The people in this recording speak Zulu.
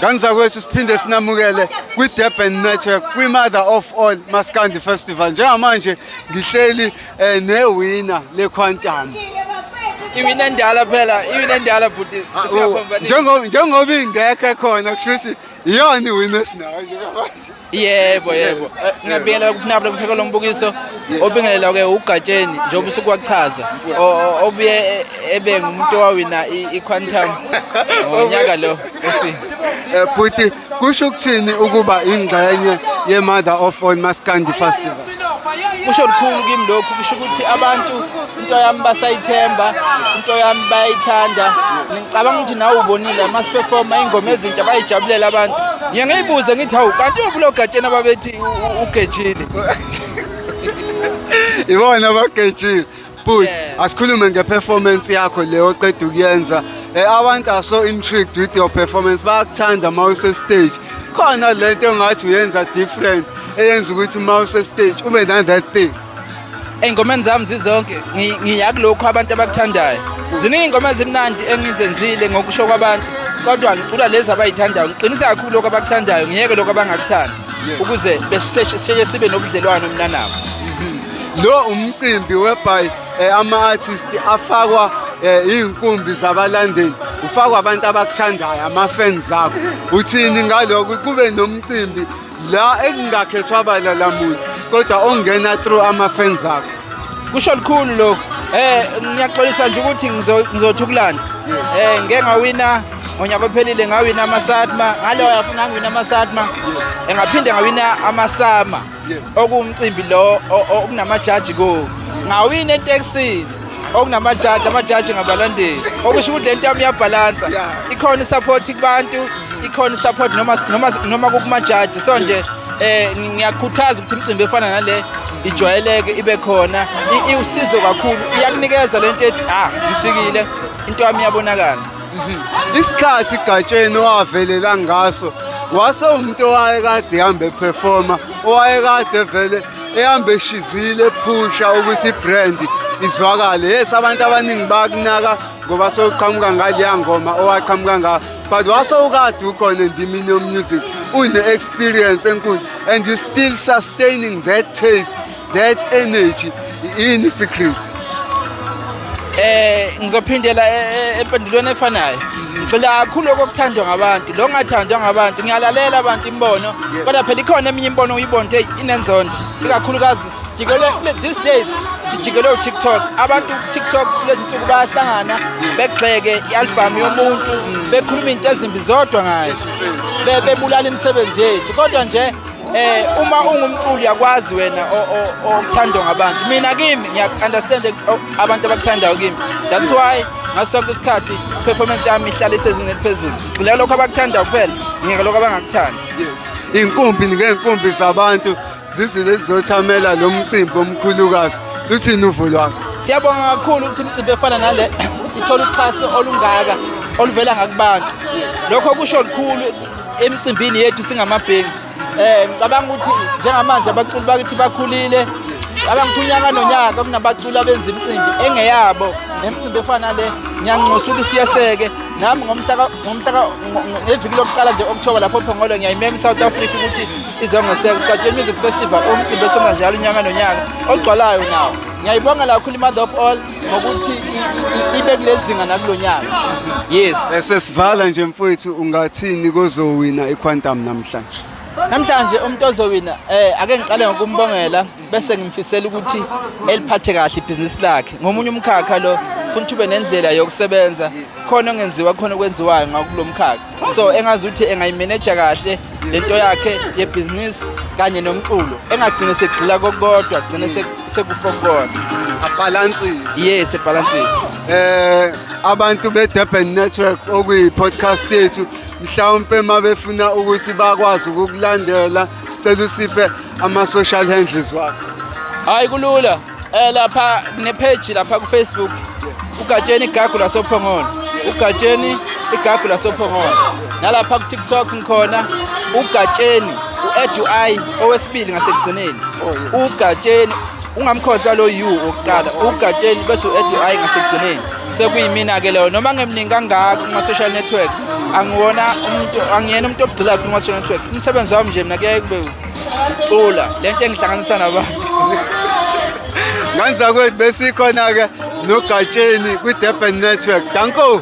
Kanzakwethu siphinde sinamukele kwi-Durban Network kwi-Mother of All Maskandi Festival njengamanje ngihleli eh, newina leQuantum iwina endala phela iwina endala bhuti ah, oh, njengoba ingekho khona kusho ukuthi iyona iwina esinayo njengamanje yebo yebo Eh, ngiyabingelela kuphinabula kupheka lo mbukiso obingelela ke ugatsheni njengoba usuke wakuchaza O- o- obuye e- ebe ngumuntu owawina i- i-quantum ngonyaka lo ofika Eh, bhuti kusho ukuthini ukuba ingxenye ye-mother of all maskandi festival kusho lukhulu kimi lokhu kusho ukuthi abantu into yami basayithemba into yami bayayithanda ngicabanga ukuthi nawe ubonile ama-performa iy'ngoma ezintsha bayijabulela abantu ngiye ngiyibuze ngithi hawu kanti ubulo gatsheni ababethi ugejile ibona abagejile But asikhulume ngeperformance yakho le oqeda ukuyenza. Eh, Abantu are so intrigued with your performance. Bayakuthanda uma use stage. Khona lento engathi uyenza different eyenza ukuthi uma use stage ube na that thing. Ey'ngomeni zami zizonke ngi- ngiya kulokhu abantu abakuthandayo. Ziningi iy'ngoma ezimnandi engizenzile ngokusho kwabantu kodwa ngicula lezi abayithandayo. Ngiqinise kakhulu lokhu abakuthandayo ngiyeke lokhu abangakuthandi ukuze besiseshe sibe nobudlelwano mina nabo. lo umcimbi whereby eh, ama-artist afakwa eh, iy'nkumbi zabalandeli ufakwa abantu abakuthandayo ama-fans akho uthini ngalokho kube nomcimbi la ekungakhethwa bala la muntu kodwa ongena through ama-fans akho kusho lukhulu lokhu eh ngiyaxolisa nje ukuthi ngizothi ukulanda eh ngeke ngawina ngonyaka ophelile ngawina amasatma ngalo yafuna ngiwina amasatma engaphinde ngawina amasama okuwumcimbi lo okunamajaji kuwo ngawini etekisini okunamajaji amajaji ngabalandeli okusho ukuthi le nto yami iyabhalansa ikhona isaphothi kubantu ikhona isaphothi noma noma noma kukumajaji so nje eh ngiyakhuthaza ukuthi imicimbi efana nale ijwayeleke ibe khona iwusizo kakhulu iyakunikeza lento ethi ah ngifikile into yami iyabonakala isikhathi gatsheni owavelela ngaso wase umuntu owayekade ehambe ephefoma owayekade vele ehambe eshizile ephusha ukuthi ibrand izwakale yes abantu abaningi bakunaka ngoba sewuqhamuka ngaleya ngoma owaqhamuka ngayo but wase ukade ukhona endimini yomusic une-experience enkulu and you still sustaining that taste That energy in secret. Eh ngizophindela e, e, empendulweni efanayo. Ngicela kakhulu okuthandwa ngabantu. Lo ngathandwa ngabantu ngiyalalela abantu imbono. Kodwa phela ikhona eminye imbono uyibonde inenzondo. Ikakhulukazi sijikelwe these days sijikelwe uTikTok. Abantu uTikTok kulezi nsuku bayahlangana begxeke i-album yomuntu bekhuluma into ezimbi zodwa ngayo. Bebulala imisebenzi yethu. Kodwa nje Eh uma ungumculi yakwazi wena okuthandwa ngabantu. Mina kimi ngiya understand abantu abakuthandayo kimi. That's why ngaso sonke isikhathi performance yami ihlala isezingeni eliphezulu. Ngicela lokho abakuthandayo kuphela, ngeke lokho abangakuthandi. Yes. Inkumbi ngeenkumbi zabantu zizile zizothamela lo mcimbi omkhulukazi. Luthini uvo lwakho? Siyabonga kakhulu ukuthi umcimbi efana nale ithola uxhaso olungaka oluvela ngakubantu. Lokho kusho lukhulu emcimbini yethu singamabhenci um ngicabanga ukuthi njengamanje abaculi bakithi bakhulile abangithu unyaka nonyaka kunabaculi abenza imicimbi engeyabo nemicimbi efana le ngiyanxusa ukuthi siyeseke nami ngeviki lokuqala nje okuthoba lapho phongolo ngiyayimema i-south africa ukuthi izongeseka ugatsheni music festival umcimbi esona njalo unyaka nonyaka ogcwalayo nawo ngiyayibonga lakhulu i-mother of all ngokuthi i- i- ibe kulezinga nakulonyaka yes Esesivala nje mfowethu ungathini kozowina iQuantum namhlanje. namhlanje umuntu ozowina eh ake ngiqale ngokumbongela bese ngimfisela ukuthi eliphathe kahle ibhizinisi lakhe ngomunye umkhakha lo futhi ube nendlela yokusebenza khona ongenziwa khona okwenziwayo ngakulo mkhakha so engazi ukuthi engayimeneja kahle lento yakhe yebhizinisi kanye nomculo engagcine sekugxila kokodwa agcine sekufo kukona abhalansise yes ebhalansise eh abantu be-durban network okuyi-podcast yethu mhlawumpe uma befuna ukuthi bakwazi ukukulandela sicela usiphe ama-social handles wakho hhayi kulula Eh lapha kune page lapha ku Facebook. Ugatsheni igagu lasophongolo. Ugatsheni igagu lasophongolo. Nalapha ku TikTok ngikhona ugatsheni u-Edu I owesibili ngasekugcineni. Oh, ugatsheni ungamkhohlwa lo U oqala ugatsheni bese u-Edu I ngasekugcineni. Sekuyimina ke leyo noma ngemningi kangaka kuma social network angiwona umuntu angiyena umuntu ogcila kakhulu kuma social network. Umsebenzi wami nje mina kuyaye kube cula le nto engihlanganisa nabantu nganzakwethu besikhona-ke nogatsheni kwi-durban network danko